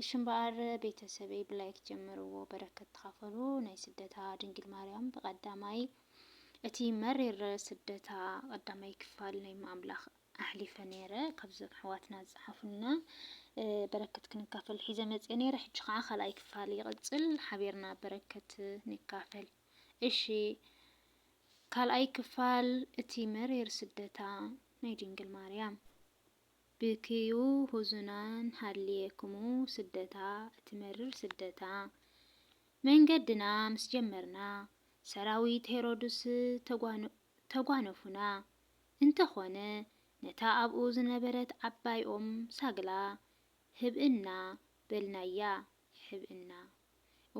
እሺ እምበኣር ቤተሰበይ ብላይክ ጀምርዎ በረከት ተካፈሉ ናይ ስደታ ድንግል ማርያም ብቀዳማይ እቲ መሪር ስደታ ቀዳማይ ክፋል ናይ እመ ኣምላክ ኣሕሊፈ ነይረ ካብዞም ኣሕዋትና ዝጸሓፉልና በረከት ክንካፈል ሒዘ መጽየ ነይረ ሕጂ ከዓ ካልኣይ ክፋል ይቅጽል ሓቢርና በረከት ንካፈል እሺ ካልኣይ ክፋል እቲ መሪር ስደታ ናይ ድንግል ማርያም ብክዩ ሁዙናን ሃልየክሙ ስደታ እቲ መርር ስደታ መንገድና ምስ ጀመርና ሰራዊት ሄሮዱስ ተጓነፉና እንተ ኾነ ነታ ኣብኡ ዝነበረት ዓባይ ኦም ሳግላ ህብእና በልናያ ሕብእና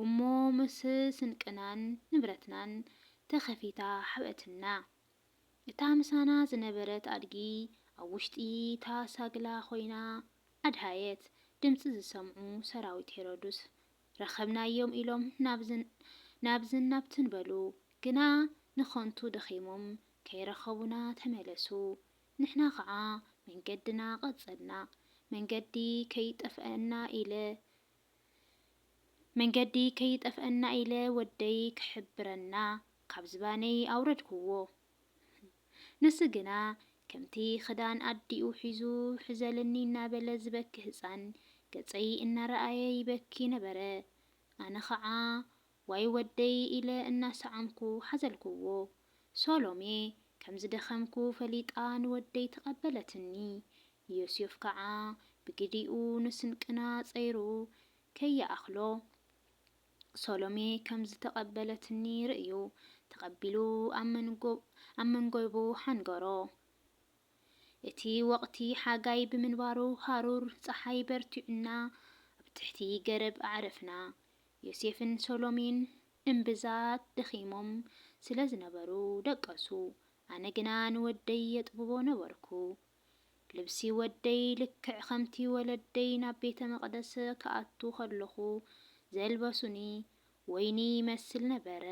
እሞ ምስ ስንቅናን ንብረትናን ተኸፊታ ሓብእትና እታ ምሳና ዝነበረት ኣድጊ ኣብ ውሽጢ እታ ሳግላ ኮይና ኣድሃየት። ድምጺ ዝሰምዑ ሰራዊት ሄሮድስ፣ ረኸብናዮም ኢሎም ናብዝን ናብትን በሉ። ግና ንኸንቱ ደኺሞም ከይረኸቡና ተመለሱ። ንሕና ኸኣ መንገድና ቀጸልና። መንገዲ ከይጠፍኣና ኢለ መንገዲ ከይጠፍኣና ኢለ ወደይ ክሕብረና ካብ ዝባነይ ኣውረድኩዎ። ንሱ ግና ከምቲ ክዳን ኣዲኡ ሒዙ ሕዘልኒ እናበለ ዝበኪ ህጻን ገጸይ እናረኣየ ይበኪ ነበረ። ኣነ ኸዓ ዋይ ወደይ ኢለ እናሰዓምኩ ሓዘልኩዎ። ሶሎሜ ከም ዝደኸምኩ ፈሊጣ ንወደይ ተቐበለትኒ። ዮስዮፍ ከዓ ብግዲኡ ንስንቅና ፀይሩ ከይኣኽሎ ሶሎሜ ከም ዝተቐበለትኒ ርእዩ ተቐቢሉ ኣብ መንጎቡ ሓንገሮ። እቲ ወቕቲ ሓጋይ ብምንባሩ ሃሩር ፀሓይ በርቲዑና ኣብ ትሕቲ ገረብ ኣዕረፍና። ዮሴፍን ሰሎሚን እምብዛ ደኺሞም ስለ ዝነበሩ ደቀሱ፣ ኣነ ግና ንወደይ የጥብቦ ነበርኩ። ልብሲ ወደይ ልክዕ ኸምቲ ወለደይ ናብ ቤተ መቕደስ ክኣቱ ኸለኹ ዜልበሱኒ ወይኒ ይመስል ነበረ፣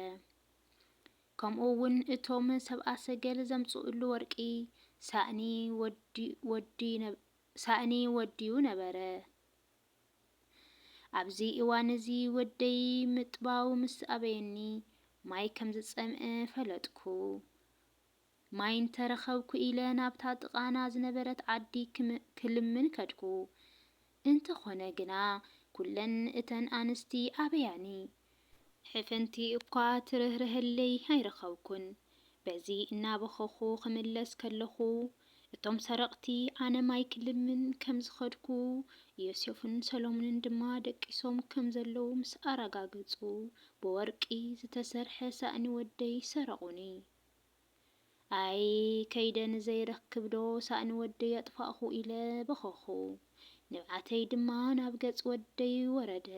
ከምኡውን እቶም ሰብኣ ሰገል ዘምጽኡሉ ወርቂ ሳእኒ ወድዩ ነበረ። ኣብዚ እዋን እዚ ወደይ ምጥባው ምስ ኣበየኒ ማይ ከም ዝጸምእ ፈለጥኩ። ማይ እንተ ረኸብኩ ኢለ ናብታ ጥቓና ዝነበረት ዓዲ ክልምን ከድኩ። እንተኾነ ግና ኩለን እተን ኣንስቲ ኣበያኒ ሕፍንቲ እኳ ትርህርሀለይ ኣይረኸብኩን። በዚ እናበኸኹ ክምለስ ከለኹ፣ እቶም ሰረቕቲ ኣነ ማይ ክልምን ከም ዝኸድኩ፣ ዮሴፍን ሰሎሙንን ድማ ደቂሶም ከም ዘለዉ ምስ ኣረጋገጹ፣ ብወርቂ ዝተሰርሐ ሳእኒ ወደይ ሰረቑኒ። ኣይ ከይደ ንዘይረክብዶ ሳእኒ ወደይ ኣጥፋእኹ ኢለ በኸኹ። ንብዓተይ ድማ ናብ ገጽ ወደይ ወረደ።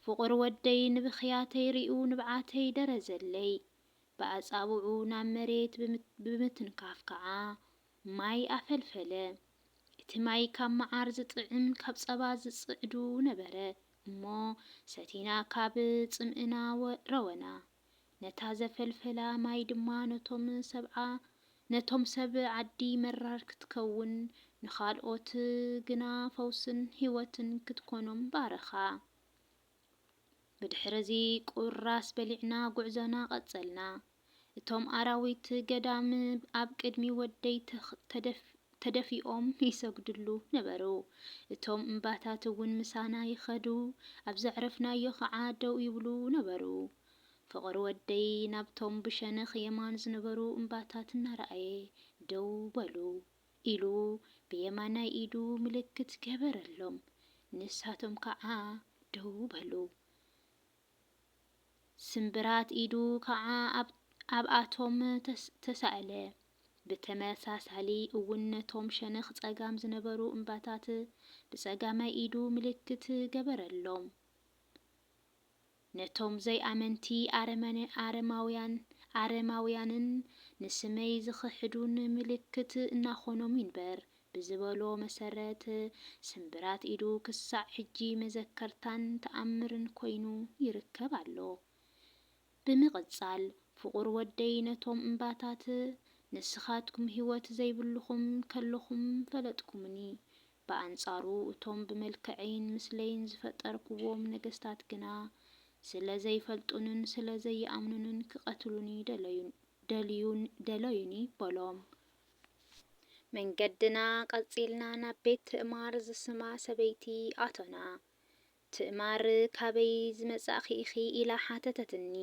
ፍቑር ወደይ ንብኽያተይ ሪኡ ንብዓተይ ደረዘለይ። ብኣጻብዑ ናብ መሬት ብምትንካፍ ከዓ ማይ ኣፈልፈለ። እቲ ማይ ካብ መዓር ዝጥዕም ካብ ጸባ ዝጽዕዱ ነበረ እሞ ሰቲና ካብ ጽምእና ረወና። ነታ ዘፈልፈላ ማይ ድማ ነቶም ሰብዓ ነቶም ሰብ ዓዲ መራር ክትከውን ንኻልኦት ግና ፈውስን ህይወትን ክትኮኖም ባረኻ። ብድሕርዚ ቁራስ በሊዕና ጉዕዞና ቀጸልና። እቶም ኣራዊት ገዳም ኣብ ቅድሚ ወደይ ተደፊኦም ይሰግድሉ ነበሩ። እቶም እምባታት እውን ምሳና ይኸዱ፣ ኣብ ዘዕረፍናዮ ኸዓ ደው ይብሉ ነበሩ። ፍቕር ወደይ ናብቶም ብሸነኽ የማን ዝነበሩ እምባታት እናረኣየ፣ ደው በሉ! ኢሉ ብየማናይ ኢዱ ምልክት ገበረሎም። ንሳቶም ከዓ ደው በሉ። ስምብራት ኢዱ ከኣ ኣብ ኣብኣቶም ተሳእለ። ብተመሳሳሊ እውን ነቶም ሸነኽ ጸጋም ዝነበሩ እምባታት ብጸጋማይ ኢዱ ምልክት ገበረሎም። ነቶም ዘይኣመንቲ ኣረመነ ኣረማውያን ኣረማውያንን ንስመይ ዝኽሕዱን ምልክት እናኾኖም ይንበር። ብዝበሎ መሰረት ስምብራት ኢዱ ክሳዕ ሕጂ መዘከርታን ተኣምርን ኮይኑ ይርከብ ኣሎ። ብምቕጻል ፍቑር ወደይ ነቶም እምባታት ንስኻትኩም ህይወት ዘይብልኹም ከለኹም ፈለጥኩምኒ፣ ብኣንጻሩ እቶም ብመልክዐይን ምስለይን ዝፈጠርክዎም ነገስታት ግና ስለ ዘይፈልጡንን ስለ ዘይኣምኑንን ክቐትሉኒ ደለዩን ደለዩኒ ደለዩኒ በሎም። መንገድና ቀጺልና ናብ ቤት ትእማር ዝስማ ሰበይቲ ኣቶና። ትእማር ካበይ ዝመጻእኺ ኢኺ ኢላ ሓተተትኒ።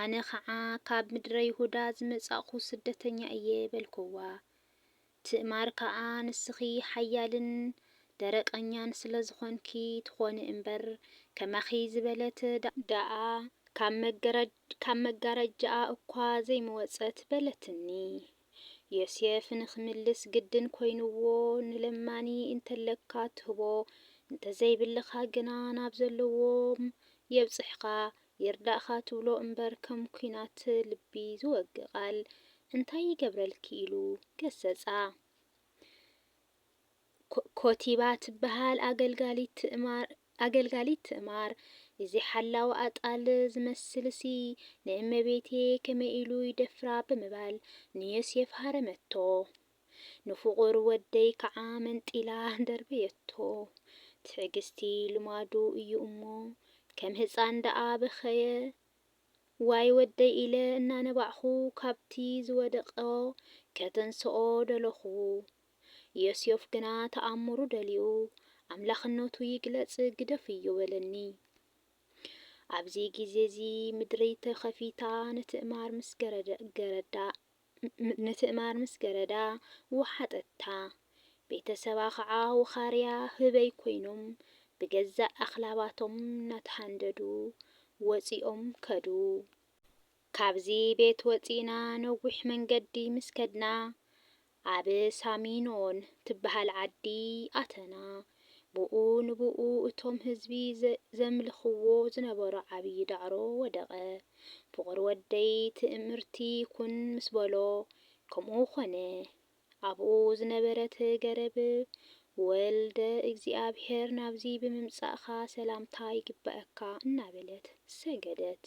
ኣነ ኸዓ ካብ ምድረ ይሁዳ ዝመጻእኩ ስደተኛ እየ በልኩዋ። ትእማር ከኣ ንስኺ ሓያልን ደረቀኛን ስለ ዝኾንኪ ትኾኒ እምበር ከማኺ ዝበለት ደኣ ካብ መገረድ ካብ መጋረጃኣ እኳ ዘይምወጸት በለትኒ። ዮሴፍ ንኽምልስ ግድን ኮይኑዎ ንለማኒ እንተለካ ትህቦ እንተዘይብልኻ ግና ናብ ዘለዎም የብጽሕኻ ይርዳእኻ ትብሎ እምበር ከም ኩናት ልቢ ዝወግእ ቃል እንታይ ይገብረልኪ ኢሉ ገሰጻ። ኮቲባ ትበሃል ኣገልጋሊት ትእማር ኣገልጋሊት ትእማር እዚ ሓላዊ ኣጣል ዝመስልሲ ንእመቤቴ ከመይ ኢሉ ይደፍራ ብምባል ንዮሴፍ ሃረመቶ። ንፍቑር ወደይ ከዓ መንጢላ ደርበየቶ። ትዕግስቲ ልማዱ እዩ እሞ ከም ህፃን ደኣ በኸየ። ዋይ ወደይ ኢለ እናነባዕኹ ካብቲ ዝወደቐ ከተንስኦ ደለኹ። ዮስዮፍ ግና ተኣምሩ ደልዩ ኣምላኽነቱ ይግለጽ ግደፍ እዩ በለኒ። ኣብዚ ግዜ እዚ ምድሪ ተኸፊታ ንትእማር ምስ ገረዳ ንትእማር ምስ ገረዳ ወሓጠታ። ቤተሰባ ኸዓ ውኻርያ ህበይ ኮይኖም ብገዛእ ኣኽላባቶም እናተሃንደዱ ወጺኦም ከዱ። ካብዚ ቤት ወጺእና ነዊሕ መንገዲ ምስ ከድና ኣብ ሳሚኖን ትበሃል ዓዲ ኣተና። ብኡ ንብኡ እቶም ህዝቢ ዘምልኽዎ ዝነበሩ ዓብዪ ዳዕሮ ወደቐ። ፍቑር ወደይ ትእምርቲ ኩን ምስ በሎ ከምኡ ኮነ። ኣብኡ ዝነበረት ገረብ ወልደ እግዚኣብሔር ናብዚ ብምምጻእካ ሰላምታ ይግበኣካ እናበለት ሰገደት።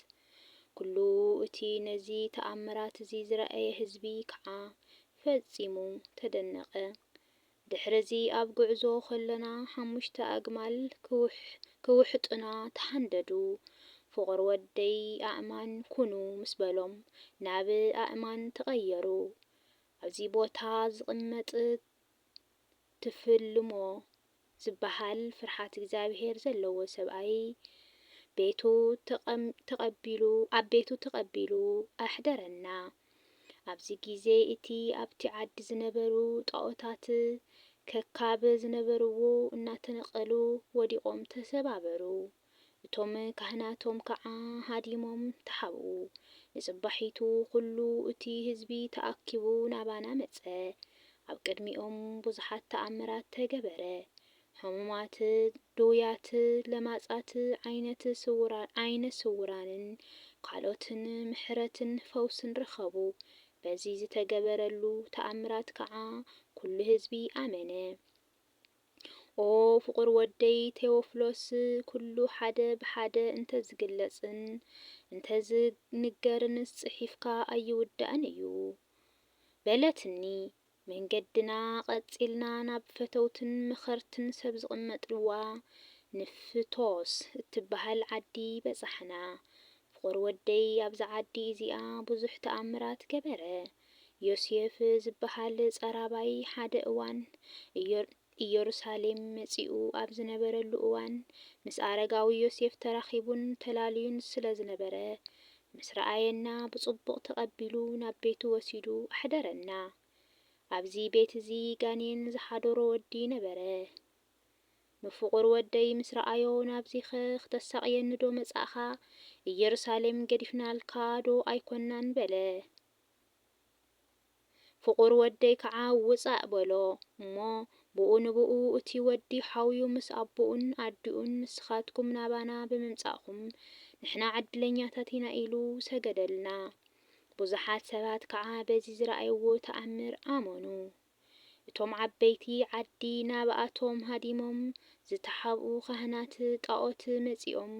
ኵሉ እቲ ነዚ ተኣምራት እዚ ዝረኣየ ህዝቢ ኸኣ ፈጺሙ ተደነቐ። ድሕርዚ ኣብ ጕዕዞ ኸሎና ሓሙሽተ ኣግማል ኪውሕጡና ተሃንደዱ። ፍቑር ወደይ ኣእማን ኩኑ ምስ በሎም ናብ ኣእማን ተቐየሩ። ኣብዚ ቦታ ዝቕመጥ ትፍልሞ ዝበሃል ፍርሓት እግዚኣብሄር ዘለዎ ሰብኣይ ቤቱ ተቐቢሉ ኣብ ቤቱ ተቐቢሉ ኣሕደረና። ኣብዚ ግዜ እቲ ኣብቲ ዓዲ ዝነበሩ ጣኦታት ከካብ ዝነበርዎ እናተነቐሉ ወዲቖም ተሰባበሩ። እቶም ካህናቶም ከዓ ሃዲሞም ተሓብኡ። ንፅባሒቱ ዅሉ እቲ ህዝቢ ተኣኪቡ ናባና መፀ። ኣብ ቅድሚኦም ብዙሓት ተኣምራት ተገበረ፣ ሕሙማት፣ ድውያት፣ ለማፃት፣ ዓይነ ስውራንን ካልኦትን ምሕረትን ፈውስን ረኸቡ። በዚ ዝተገበረሉ ተኣምራት ከዓ ኵሉ ህዝቢ ኣመነ። ኦ ፍቑር ወደይ ቴዎፍሎስ፣ ኩሉ ሓደ ብሓደ እንተዝግለጽን እንተዝንገርንስ ጽሒፍካ ኣይውዳእን እዩ። በለትኒ። መንገድና ቀጺልና ናብ ፈተውትን መኸርትን ሰብ ዝቕመጥዋ ንፍቶስ እትበሃል ዓዲ በጻሕና። ፍቁር ወደይ ኣብዛ ዓዲ እዚኣ ብዙሕ ተኣምራት ገበረ ዮስየፍ ዝበሃል ጸራባይ ሓደ እዋን እዮሩሳሌም መጺኡ ኣብ ዝነበረሉ እዋን ምስ ኣረጋዊ ዮሴፍ ተራኺቡን ተላልዩን ስለ ዝነበረ ምስ ረኣየና ብጽቡቕ ተቐቢሉ ናብ ቤቱ ወሲዱ ኣሕደረና ኣብዚ ቤት እዚ ጋኔን ዝሓዶሮ ወዲ ነበረ ንፍቑር ወደይ ምስ ረኣዮ፣ ናብዚኸ ኽተሳቕየኒዶ መጻእካ? ኢየሩሳሌም ገዲፍናልካ ዶ ኣይኰንናን? በለ። ፍቑር ወደይ ከዓ ውጻእ! በሎ። እሞ ብኡ ንብኡ እቲ ወዲ ሓውዩ ምስ ኣቦኡን ኣዲኡን ንስኻትኩም ናባና ብምምጻእኩም ንሕና ዕድለኛታት ኢና ኢሉ ሰገደልና። ብዙሓት ሰባት ከዓ በዚ ዝረኣይዎ ተኣምር ኣመኑ። እቶም ዓበይቲ ዓዲ ናብኣቶም ሃዲሞም ዝተሓብኡ ኻህናት ጣኦት መጺኦም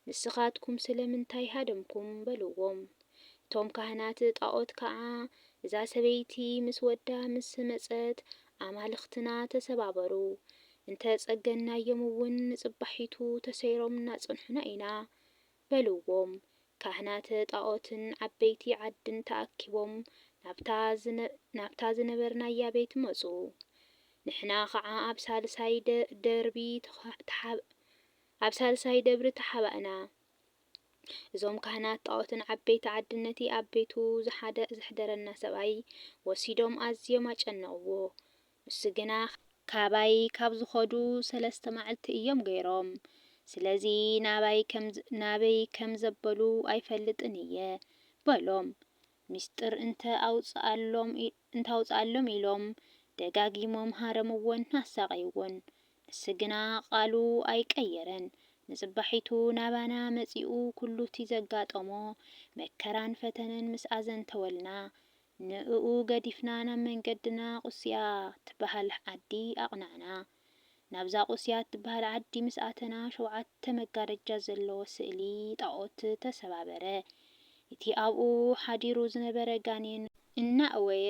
ንስኻትኩም ስለምንታይ ሃደምኩም? በልዎም። እቶም ካህናት ጣኦት ከኣ እዛ ሰበይቲ ምስ ወዳ ምስ መጸት ኣማልኽትና ተሰባበሩ፣ እንተ ጸገንናዮምውን ንጽባሒቱ ተሰይሮም እናጸንሑና ኢና፣ በልዎም። ካህናተ ጣዖትን ዓበይቲ ዓድን ተኣኪቦም ናብታ ናብታ ዝነበርናያ ቤት መጹ። ንሕና ኸዓ ኣብ ሳልሳይ ደርቢ ተሓብ ኣብ ሳልሳይ ደብሪ ተሓባእና። እዞም ካህናት ጣዖትን ዓበይቲ ዓድን ነቲ ኣብ ቤቱ ዘሓደ ዘሕደረና ሰብኣይ ወሲዶም ኣዝዮም ኣጨነቕዎ። ንሱ ግና ካባይ ካብ ዝኸዱ ሰለስተ ማዕልቲ እዮም ገይሮም ስለዚ ናባይ ናበይ ከም ዘበሉ ኣይፈልጥን እየ በሎም ሚስጥር እንተ ኣውጽኣሎም ኢሎም ደጋጊሞም ሃረምዎን ኣሳቐይዎን ንሱ ግና ቓሉ ኣይቀየረን ንጽባሒቱ ናባና መጺኡ ኩሉቲ ዘጋጠሞ መከራን ፈተነን ምስ ኣዘንተወልና ንእኡ ገዲፍና ናብ መንገድና ቁስያ ትበሃል ዓዲ ኣቕናዕና። ናብዛ ቁስያ እትበሃል ዓዲ ምስ ኣተና ሸውዓተ መጋረጃ ዘለዎ ስእሊ ጣኦት ተሰባበረ። እቲ ኣብኡ ሓዲሩ ዝነበረ ጋኔን። እናእወየ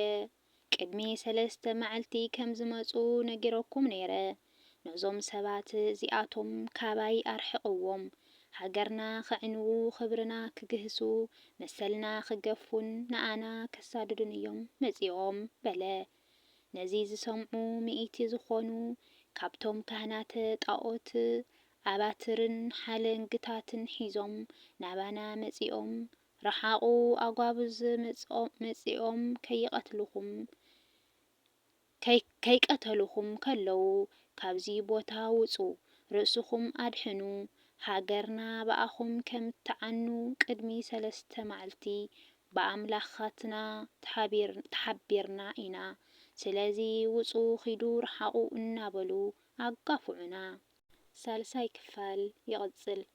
ቅድሚ ሰለስተ መዓልቲ ከም ዝመጹ ነጊረኩም ነይረ። ነዞም ሰባት እዚኣቶም ካባይ ኣርሕቕዎም። ሃገርና ከዕንዉ፣ ክብርና ክግህሱ፣ መሰልና ክገፉን ንኣና ከሳድዱን እዮም መጺኦም በለ። ነዚ ዝሰምዑ ሚእቲ ዝኾኑ ካብቶም ካህናተ ጣኦት ኣባትርን ሓለንግታትን ሒዞም ናባና መጺኦም ርሓቑ ኣጓብዝ መጺኦም ከይቐትልኹም ከይቀተሉኹም ከለዉ ካብዚ ቦታ ውጹ ርእስኹም ኣድሕኑ ሃገርና ብኣኹም ከም ትዓኑ ቅድሚ ሰለስተ ማዕልቲ ብኣምላኻትና ተሓቢርና ኢና ስለዚ ውጹ ኪዱ ርሓቑ እናበሉ ኣጋፉዑና። ሳልሳይ ክፋል ይቕጽል።